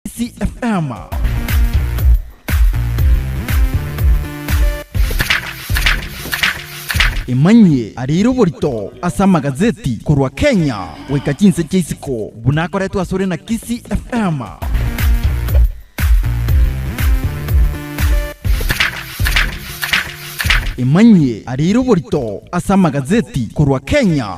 Gusii FM. Emanyie arire oborito ase amagazeti korwa Kenya goika chinse chia isiko buna akoretwe asore na Kisii FM. Emanyie arire oborito ase amagazeti korwa Kenya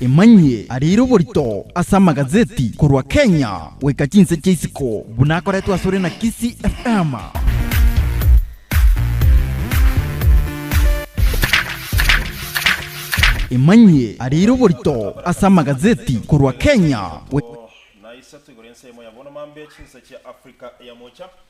Emanyie arire oborito ase amagazeti korwa Kenya goika chinse chia isiko buna akoretwe asore na Kisii FM. Emanyie arire oborito ase amagazeti korwa Kenya goika. Naise toigure ense eyemo ya bono mambia chinse chia Africa eyamocha.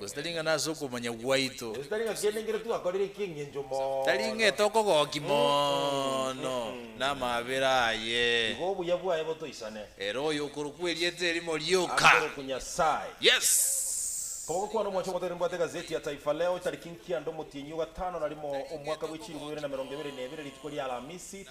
Gose tari ng'a nase okomanya gwaito. Gose tari ng'a kende nkere twakorire eki'engencho mono. Tari ng'a etokogooki mono namaabera aye. Tiga obuya bwaye botoisane. Ere oyo okorokwa erieta erimo rioka. Akorokwe Nyasae. Yes. Koba ogokwana omwancha ogotoira nibwate egazeti ya Taifa Leo tariki nkianda omotienyi o gatano na rimo omwaka bwe chilifu ibere na merongo ebere na ebere rituko ria Alamisi.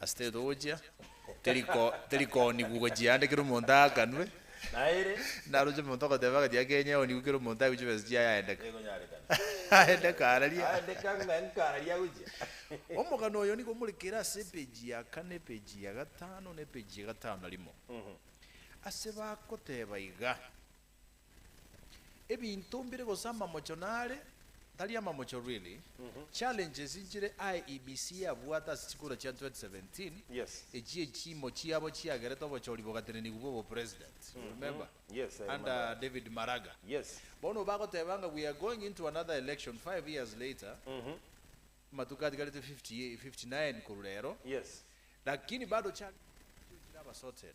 Ase teri togochia, teriko, terikoonigwa gochia aande kera omonto aakanwe, naroche omonto ogoteba agachie akeenya aonigwe kera omonto aigwe chibesa chiaye aendeka. Aendeka araria. Omogano oyo nigo more kera ase epage ya kane, epage ya gatano, na epage ya gatano na rimo. Ase bagoteba iga. Ebinto mbire gose amamocho nare tari amamocho really. Challenges nchire aye EBC yabwate ase chikura chia 2017 echio echiimo chiabo chiagerete obochori bogatenenigwa bwa obopresident you remember under David Maraga bono bagoteba ng'a we are going into another election five years later amatuko atigarete 59 korwa rero lakini bado challenges nchire abasotere.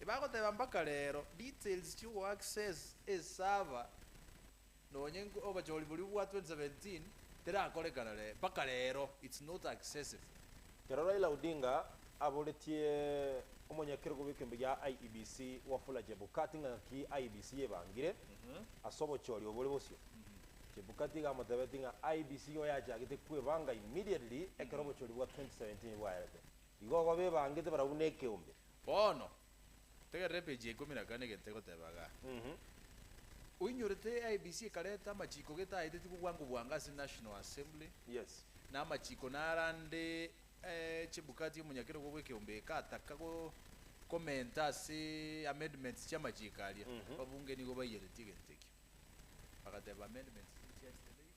Ebagoteba mpaka rero details chio go access e server nonye obachori boria bwa 2017 terakorekana ree mpaka rero it's not accessible. Ekero Raila Odinga aboretie omonyakerego bw'ekeombe gia IEBC Wafula Chebukati ng'a ng'aki IEBC yebangire ase obochori obore bosio, Chebukati iga amotebetie ng'a IEBC igo yachagete kwebanga immediately ekero obochori bwa 2017 bwaerete. Igo igo bebangete barabwo nekeombe. Bono, tegerera epeji ya ikomi na kane gete egoteba iga, Oinyorete IEBC ekareta amachiko gete aeteti bobwango bwango ase National Assembly, na amachiko naro ande eh, Chebukati omonyakerogo bw'ekeombe egataka go commenta ase amendments chi'amachiko aria. Ababunge nigo baiyeretie egento ekio, bagateba amendments nigo chiachete na ebibe.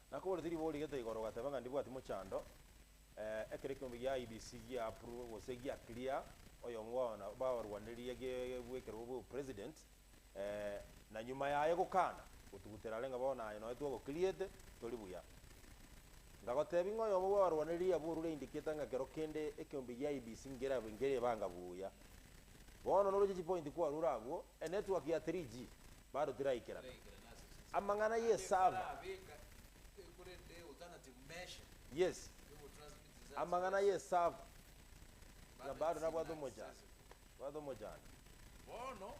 Nakoboretie riborio gete igoro ogateba ng'a ndibwati mochando, eeh ekero ekiombe gia IEBC giaapurwe gose gia clear oyongo bwaona baorwaneria gebwekerwe obe opresident eeh na nyuma yaye gokana gotugutera are ng'a bono aye noe twago clearete tori buya. Ngagotebi ng'a oyomo bwaorwaneria abwo orure indicator ng'a kero kende ekiombe gia IEBC ngerabe nkeribanga buya. Bono noroche chipointi kwarure abwo, enetwork ya 3G Barutire aikeranu. Amang'ana y'esaba. Yes. Amang'ana y'esaba. Ng'a bado nabwate omochando. Bwate omochando. Bono,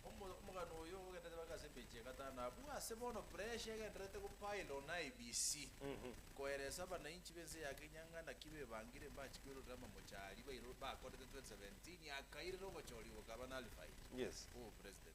omo, omogano oyo ogenderete bake ase emechi egatano abwo, ase bono pressure egendererete go pile on IEBC, koeresa abanainchi b'ense eya Kenya ng'a naki bebangire mbachi kwerorera amamocha aria bairoro, bakorete 2017 akairera ogochorigwa kaba nullified. Yes. Obopresident.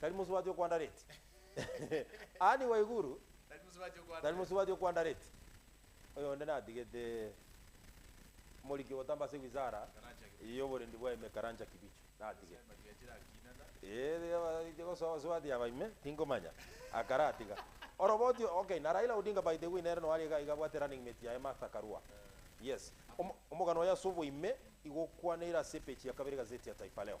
Tari mosubati okwandareti. Ani waiguru? Tari mosubati okwandareti. Oyonde natigete omoriki ogotamba ase wizara y'oborendi bwaime Karanja Kibicho. Natigete. Eeh abaite gosoa abasubati aba ime, tinkomanya. Akaratiga. Oroboti okay na Raila Odinga by the way nere noo aria iga iga abwate running mate yaye Martha Karua. Yes. Omogano oye ase oboime igo okwaneire ase epeji ya kabere egazeti ya Taifa Leo.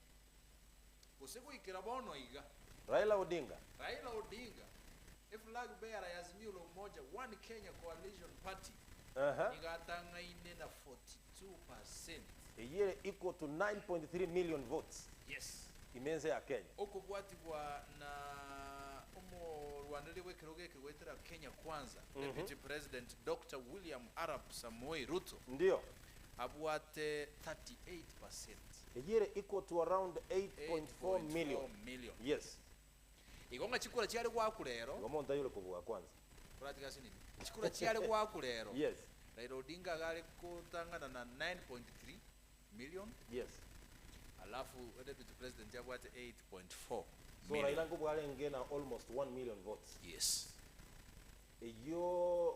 Gose goikera bono iga. Raila Odinga. Raila Odinga, Eflag bearer y'Azimio la Umoja One Kenya Coalition Party nigo atang'aine na 42 percent. Eyio ere equal to 9.3 million votes. Yes. Ime ense ya Kenya. Okobwatigwa na omorwaneria bw'ekerogo eke goetera Kenya Kwanza, Deputy President Doctor William Arap Samoei Ruto. Ndio. Abwate 38 percent. Eyio ere equal to around 8.4 million. 8.4 million. Yes. Igo ng'a chikura chiare goakwa rero. Igo monto ayore kobua kwanza. Toratige ase nini. Chikura chiare goakwa rero. Yes. Raila Odinga iga are gotang'ana na 9.3 million. Yes. Alafu deputy president abwate 8.4 So Raila million. nkobua arenge na almost 1 million votes. Yes. Eyio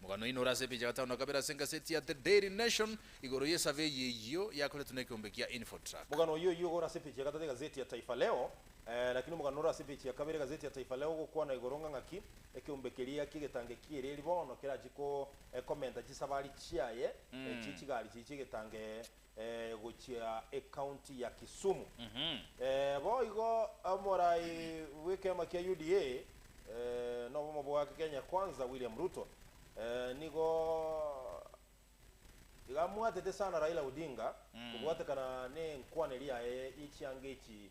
Omogano oino ore ase epicha ya gatano na kabere ase egaseti ya The Daily Nation igoro y'esavei eyio yakoretwe nekeombe kia Infotrak. Mogano oyio oyio ore ase epicha ya gatato egaseti ya Taifa Leo, lakini omogano ore ase epicha ya kabere egaseti ya Taifa Leo ogokwana igoro ng'a ng'aki ekeombe keria ki'egetange ki'eeri eeri bono kerachie komenta chisabari chiaye chie chigari chiria chi'egetange ee gochia ecounty ya Kisumu. Ee boigo omorai bw'ekeama kia UDA ee nobomo bwa Kenya Kwanza William Ruto ee nigo iga amwatete sana Raila Odinga kobwatekana nenkwaneri yaye ye chianga echi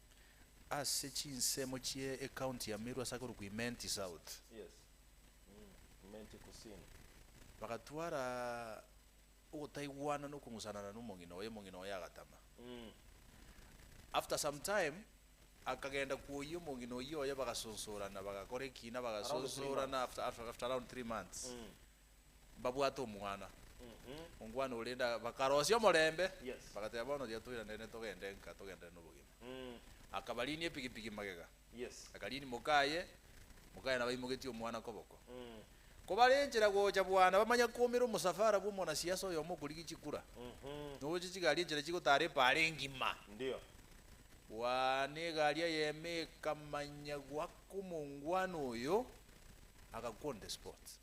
Ase chinsemo chie ecounty ya Meru ase akorokwa Imenti South, bagatwara ogotaigwana na okong'usanana nomong'ina oye, omong'ina oye agatama. After some time akagenda kwoyia omong'ina oyio oye bagasonsorana bagakora ekiina bagasonsorana after around three months mbabwate omwana ongwane orende aa, bakarosia omorembe, Yes. bagateba, Bono riria toiranene togende nka togenderere nobogima. Mm. Akabariinia epigipigi magega, Yes. akariini mokaye, mokaye nabo aimogetie omwana koboko. Mm. Kobare enchera gocha bwana, bamanya koumera omosafara bw'omonasiasa oyomo okorigia chikura, Mhm. nogocha chigari enchera chigotara epaara engima. Ndio. Bwana, egari eyemo ekamanya goaka omongwana oyo, agakwa on the spot.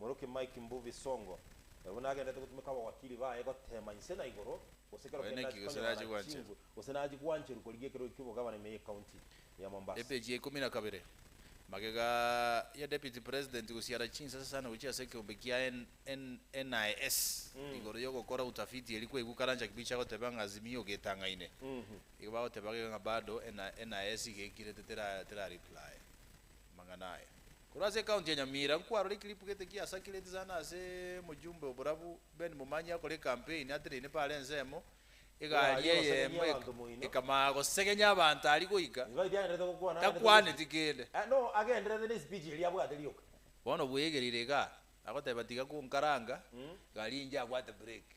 Moroki Mike Mbuvi Songo, oyo buna agenderete gotumeka abawakili baye goteema inse na igoro, gose ekero kende achie konyora chinguru gose nachie gwancherwa korigia ekerogo ki'obogabana ime y'ekaunti ya Mombasa. Epeji ya ikomi na kabere. Magega ya Deputy President gosiara chinsa sasana gochia ase ekeombe kia NIS igoro y'ogokora utafiti eria kwaigwa Karanja Kibicho agoteba ng'a Azimio getang'aine. Igo bagoteba gega ng'a bado NIS igeikirete tera reply. amang'ana aya. Korwa ase ekaunti ya Nyamira nkwarora ekilipu gete giasakireti sana ase mojumbe oborabu Ben Momanyi akore ekampeini ateneine paro ensemo, Nigo egari aria gosegenya eyemo abanto moino. ekamanya gosegenya abanto aria goika Nigo aitiagerete gokwana agende korwa esipidi. takwaneti kende. Eh, no, agendererete nesipidi eria abwate rioka. Bono bwegerire igaa, agoteba tiga konkaranga, egari enche abwate breki.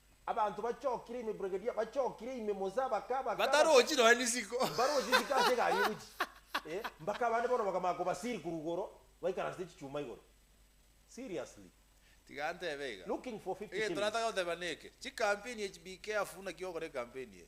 Abanto bachokire ime Brigadia bachokire ime Mosa baka baka Batarochi nonya nisiko. mbaroche isiko ase egari egochi eh mbaka abande bono bakamanya kobasiri korwa igoro baikaransete chichuma igoro seriously Tiga ntebe iga. looking for 50 Egento shillings. nataka goteba neke, chikampeni echi be careful naki ogokora ekampeni eye.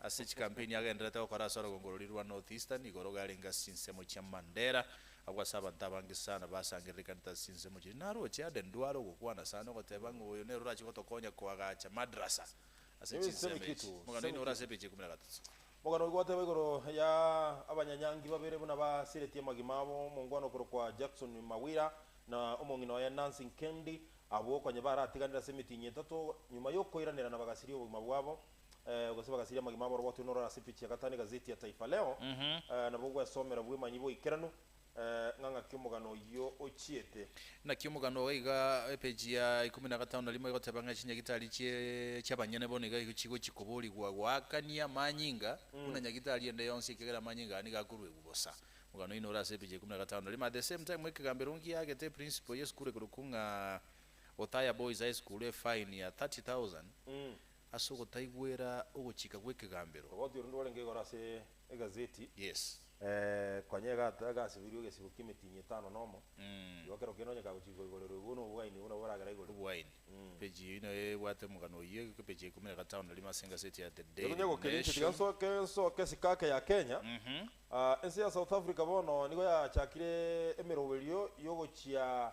Ase chikampeni agendererete gokora ase orogongo roria rwa North Eastern, igoro iga arenge ase chinsemo chia Mandera. Agwo ase abanto abange sana basangererekanete ase chinsemo chiria. Naroche Aden Duale ogokwana sana ogoteba ng'a oyo nere orache gotokonya koagacha madrasa ase Ebinsemo chinsemo echi. eketu, Mogano semo oino ore ase eketu. epeji ikomi na gatato. Mogano oyo gwateba igoro ya abanyanyangi babere buna basiretie amagima abo, omongwana okorokwa Jackson Mawira na omong'ina oye Nancy Nkendi. Abwo konya baratiganire ase emitinyi etato nyuma y'okoiranerana bagasiria obogima bwabo. gose bagasiria amagima abaroboti onore ase epeji ya gatano egazeti ya Taifa Leo, nabo gwesomera bw'emanyi boikeranu ng'a ng'aki omogano oyio ochiete. Naki omogano iga iga, epeji ya ikomi na gatano na rimo egoteba ng'a chinyagitari chi'abanyene bono iga chigochia koborigwa goakania amanyinga buna nyagitari ende yonsi ekiagera amanyinga aya nigo akoruegwa bosa. Omogano oyio nore ase epeji ya ikomi na gatano na rimo. At the same time Mwekegambero ng'ia aagete eprinciple y'esukuru ekorokwa ng'a Othaya Boys High School efine ya thirty thousand Ase ogotaigwera ogochika gw'ekegambero. Ogoti ore ndwarenge igoro ase egazeti. Yes. Konya egata egasibirwe egesibo ki'emetinyi etano nomo, igo kero kende onye kagochika koigorerwa igo nobo obogaini obwo nabo boragera igoro. Obogaini. Page eyio inayo ebwate omogano oyio, egeke page ya ikomi na gatano na rimo ase egaseti ya The Daily Nation. Ekonyegwa keria inche tiga nsoke nsoke esiko ake ya Kenya. Ense ya South Africa bono nigo yachakire emeroberio y'ogochia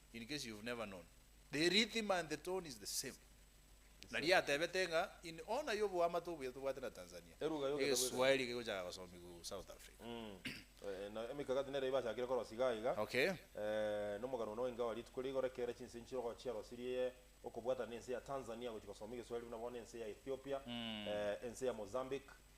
In case you've never known, the rhythm and the tone is the same. Naria atebete ng'a in honor y'oboamate obuya tobwate na Tanzania, Eruga yogenda bweka. egeswaeri kegochaka gosomigwa South Africa. Eh, na emekakati nere ibachakire korosia iga iga. Okay. Eh, na omogano one o ingawa rituko rigoro ekere chinse enchiro gochiarosirie okobwatana nense ya Tanzania gochia gosoma egeswaeri buna bono ense ya Ethiopia, eh, ense ya Mozambique,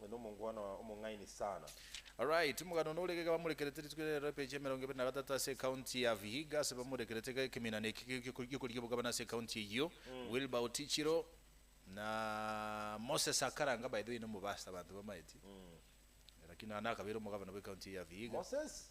Ng'a nomongwana omong'aini sana. Alright timogano nore iga bamorekerete rituko ria rero epeji ya emerongo ebere na gatato ase ecounty ya vihiga ase bamorekerete iga ekeminana eki giokoria obogabana ase ecounty eyio Wilber otichiro na Moses akaranga by the way nomo pastor abanto bamaeti lakini nonya nakabeire omogabana bwe county eye ya vihiga Moses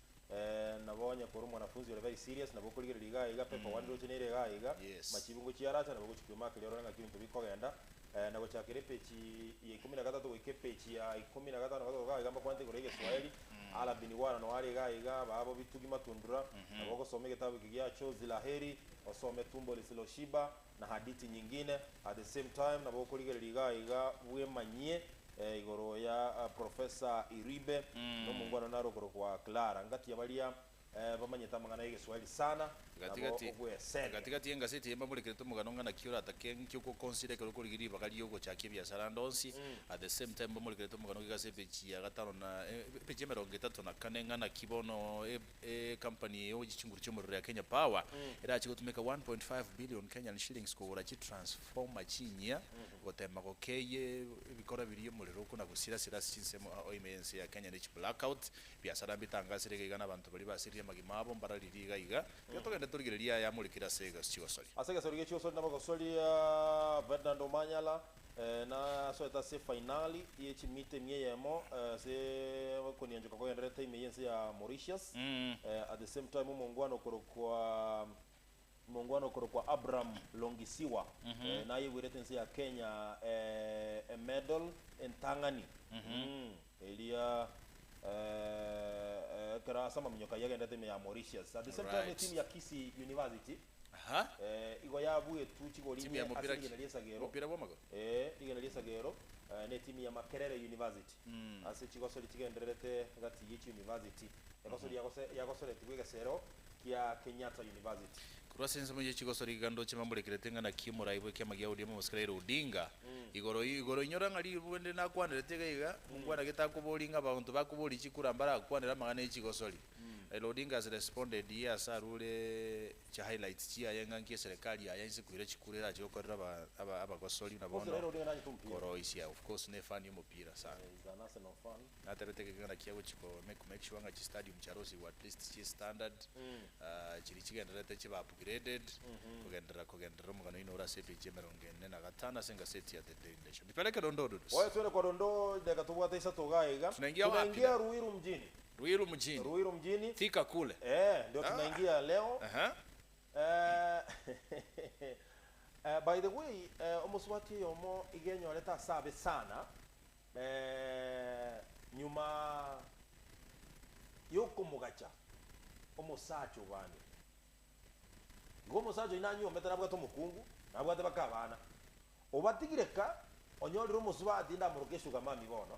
Eeh nabo onye kore omwanafunzi ore very serious nabo okorigereria iga aiga pe kogwa ndire ocheneire iga aiga Yes. machibu ngochia aracha nabo gochia koima akeria orore ng'aki ebinto bikogenda Eeh na gochakera epechi ya ikomi na gatato goika epechi ya ikomi na gatano gatogoka aiga mbakwanete igoro y'egeswaeri Ala bin Wala noare iga aiga ababo bitugi matundura nabo ogosoma egetabu eke gia Chozi la Heri osome Tumbo Lisiloshiba na hadithi nyingine at the same time nabo okorigereria iga aye iga bwemanyie igoro ya Professor Iribe na omongwana one are okorokwa Clara ngatiya baria bamanyete amang'ana y'egeswahili sana nabo Gati-gati ogwesende. Gati-gati y'engaseti eye mbaborekerete omogano ng'a naki oratake nki ogokonsida ekero okorigereria ribaga ri'ogochakia ebiasara ande onsi. At the same time mbamorekerete omogano gigase epeji ya gatano na epeji emerongo etato na kane ng'a naki bono Ecompany eogochia chinguru chi'omorero ya Kenya Power erache gotumeka K1.5 billion kogora chitransformer chinyia goteema gokeeia ebikora biria omorero okona gosirasira ase chinsemo ao ime y'ense ya Kenya ne chiblackout biasara mbitangasire iga iga na abanto baria basirie amagima abo mbararirie iga iga. Tiga togende torigererie aya amorikire ase chigosori. Ase egesori gi'echigosori nabagosoria Ferdinand Omanyala, Nasoete ase efainali ye chimita ime eyemo ase okonianchoka kogendererete ime y'ense ya Mauritius. At the same time omongwana okorokwa omongwana okorokwa Abraham Longisiwa nayegwerete ense ya Kenya emedal entang'ani eria ekero ase amaminyoka ayio agendererete ime ya Mauritius. At the same time etimu ya Kisii University. Aha. Eh, igo yabuetwe chigori Timu ya ime ase mopira ki? rigena ri'esagero. Mopira bw'amagoro? Eh, rigena ri'esagero eh, ne timu ya Makerere University. Ase chigosori chigendererete gati ye chiuniversity, egosori yagose- yagosoretigwe egesero kia Kenyatta University. Korwa ase ensemo ye chigosori iga ndoche mbamborekerete ng'a naki omorai bw'ekiama gia ODM omosike Raila Odinga. Igoro ii, igoro inyora ng'a ribu bende nakwanerete iga iga, mokwana gete akobori ng'a abaonto bakobori chikura mbarakwanere amang'ana ye chigosori. Raila Odinga has responded here ase arure chi highlights chiaye ng'a nki eserikari yaye inse kwire chikura erache gokorera abagosori na bono koroisia of course ne fan y'omopira sana natebete ng'a ekegena kia gochi ko make sure ng'a chi stadium chiarosigwa at least chie standard chiri chigendererete chibe upgraded kogenderera kogenderera omogano oino ore ase epage ya emerongo ene na gatano ase egaseti ya The Daily Nation. Nipeleke dondoo dudu. Oye twende kwa dondoo idageka tobwate isato igaa iga. Tunaingia wapi na. Tunaingia Ruiru mjini. Ruiru mjini. Ruiru mjini. Fika kule. Eeh ndio tunaingia leo. Ehe. Eeh by the way eeh omosubati oyomo iga enyorete ase abe sana eeh nyuma yokomogacha omosacha obande igo omosacha oyio nanyuomete nabwate omokungu nabwate baka abana obatigire ka onyorire omosubati ndamoroke sugar mummy bono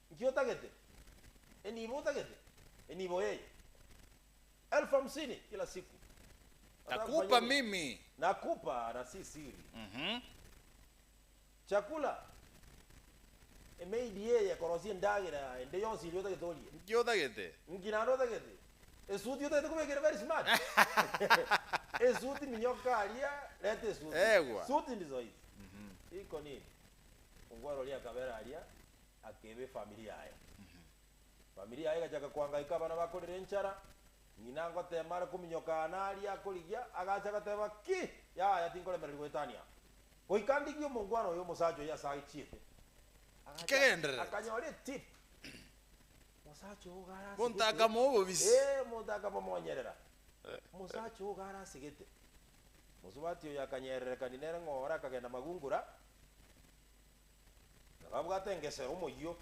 Nki otagete? Enibo otagete? Enibo ee. Elfu hamsini kila siku. Nataka kufanya Nakupa nini? mimi. Nakupa na si siri. Mhm. Chakula. Emaid eye ekorosia endagera ende yonsi eria otagete orie. Nki otagete? Nki naende otagete? Esuti otagete kobeka ere very smart. Esuti minyoka aria, reta esuti. Egwa. Suit ndizo hizi. Mhm. Iko nini? Ongware oria akabera aria. Akeba efamiri yaye. Efamiri yaye egachaka koangaika abana bakorire enchara. Ng'ina agoteema are kominyoka aane aria akorigia, agacha agateba, Ki! Yaya, tinkoremereri goetania aa. Goika ndigie omongwana oyo omosacha oyo ase achiete. Agacha akanyora etip. Mosacha ogo are ase Monto akama obobisi. Ee, monto akamomonyerera. Mosacha ogo are ase gete. Mosubati oyo akanyererekani nere ng'oore akagenda magungura. Nababwate engesero omoyio,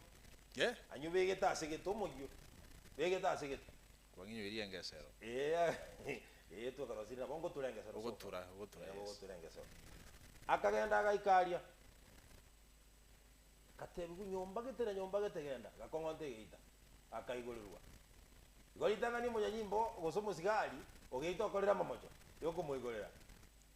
Ye? anywe begete ase gete omoyio, begete ase gete. Kwang'inyoirie engesero? Ee, aye, ee, twekarosiri nabo ngotura engesero soka. Ogotura, ogotura, Ee, yes. bogotura engesero. Akagenda agaika aria. Gateebigwa, Nyomba gete na nyomba gete genda, gakong'onta egeita. Akaigorirwa. Igo ritang'ani omonyanyimbo gose omosigari ogeita okorire amamocho, yokomoigorera.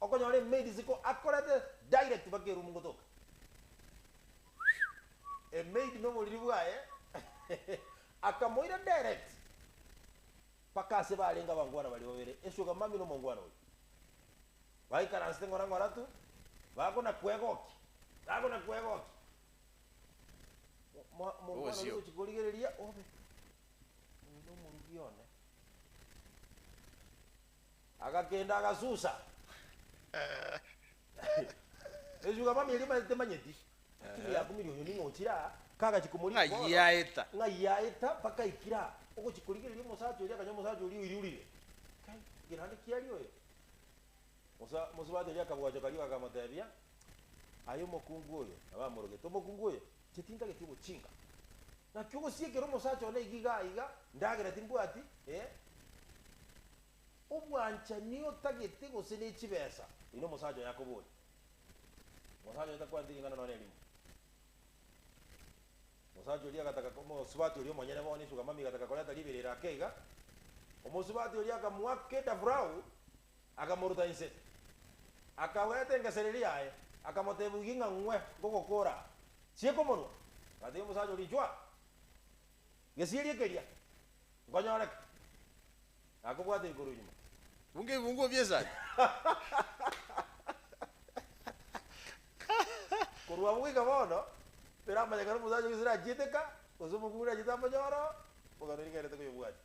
Okonyora emeeri ziko akorete direct mpaka eroom gotoka emaid noboriri bwaye akamoira direct mpaka ase barenge abangwana baria babere esugar mummy na omongwana oyo baikaransete ng'ora ng'ora tu bagona kwegokia bagona kwegokia mwa omongwana oria ogochia korigereria obe oyo nomorugi one Agakenda agasusa. Esugo abamia erio batemanyeti. Atiga yakumirie oyo ning'o ochire aa, kagachia komorigia bono, Ng'ai aeta? ng'ai aeta mpaka aikire aa, ogochia korigereria omosacha oria, akanya omosacha oria oiriurire. Kai, ng'ina aria ki aria oyo? Mosa, mosacha oria akabwachoka rigo akamotebia, Aye omokungu oyo, nabo amorogete, omokungu oyo, Chetintageti ogochinga. Naki ogosiekera omosacha one iga iga aiga, ndagera timbwati, ee. Obwanchani otagete gose ne chibesa, eyi no mosacha oye akoboria. Omosacha oye takwaneti ring'ana nonye erimo. Omosacha oria agataka omosubati oria omonyene bono, esugamami egataka koreta riberera ake iga. Omosubati oria akamoaka edafurau, Akamoruta inse, akagweta engesereri yaye, akamoteebia, Ogie ng'a ng'we ngogokoora aa. Chiika omonwa. Agateebia omosacha oria, Inchwa gesieria keria, nkonyoreke. Na akobwata igoro nyuma. Bunga ebiunguo bi'esani. Korwa abwo goika bono, tibiramanyekana omosacha o Isiraeli achiete eka, gose omokuuni achiete amonyore oo, bogani rigaerete koyobwatia.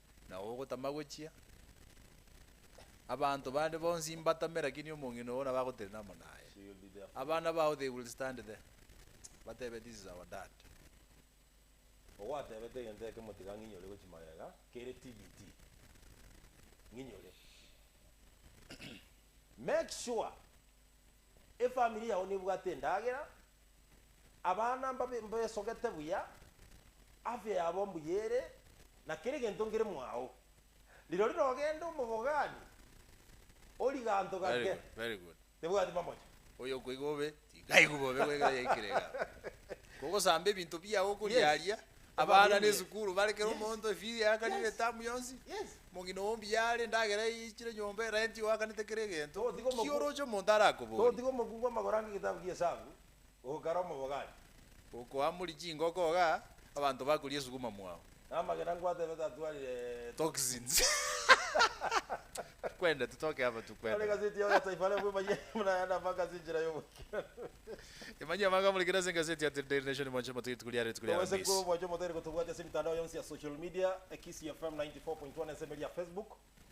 na ogotama gochia, abanto bande bonsi mbatame, lakini omong'ina oo nabagotenena amo naye. Abana bao they will stand there, batebe, This is our dad. Ogwatebete egento ekemo tiga ng'inyore gochi magega kere TBT ng'inyore make sure. Efamiri yao nebwate endagera, abana mbabe mbesogete buya, afya yabo mbuya ere, na kera egento nkere mwao. Rirorio rogende omobogani, origanto Very gake. good, very good. Tebwati mamocho. Oyo okoigwa bobe, tikaigwe bobe goegera yaikire igaa. Kogosamba ebinto biao okoria Yes. aria. Abana ne esukuru bare kera omonto efees yakanire etamu yonsi omong'ina oo mbuya are endagera yaichire nyomba erent igo akanete kera egento Togotiga omokuu- ki oroche omonto arakobori Togotiga omokuu bw'amagoro ange egetabu gi'esabu, ogokara omobogari. Okoamuri chingoko iga abanto bakoria esuguma mwao. Na amagena ngwatebe tatwarire toxins. Kwende titoke aba Tore tukwende. gazeti yao ya Taifa Leo bw'emayia buna aya nabagaase enchera y'ogoikeranu. Imagine abagamurekire ase egaseti ya The Daily Nation mwanche motige rituko riaye rituko ria Togosaba Aramisi. mwanche motere kotobwatia ase emitandao yonsi ya social media, Kisii FM 94.1 ense emeria ya Facebook,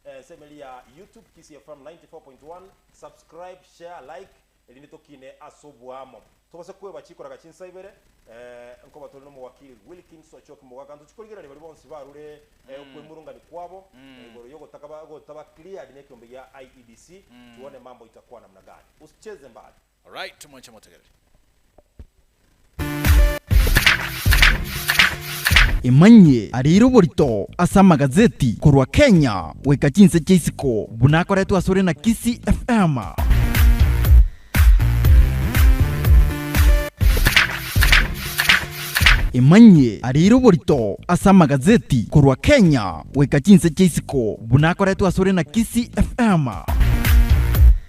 ense emeria ya YouTube, Kisii FM 94.1, subscribe, share, like, erinde tokiine ase oboamo. Togose kweba chikoraga chinsa ibere, nkoba tore n'omowakili Wilkins Ochoki Mogaka, ntochi korigereria baria bonsi barure okwemurungania kwabo igoro y'ogotaka gotaba cleared nekiombe gia IEBC, tuone mambo itakwa namna gani. Usicheze mbali. Alright, moche motegereri. Emanyie arire oborito ase amagazeti korwa Kenya goika chinse chia isiko buna akoretwe asore na Kisii FM. Emanyie arire oborito ase amagazeti korwa Kenya goika chinse chia isiko buna akoretwe asore na Kisii FM.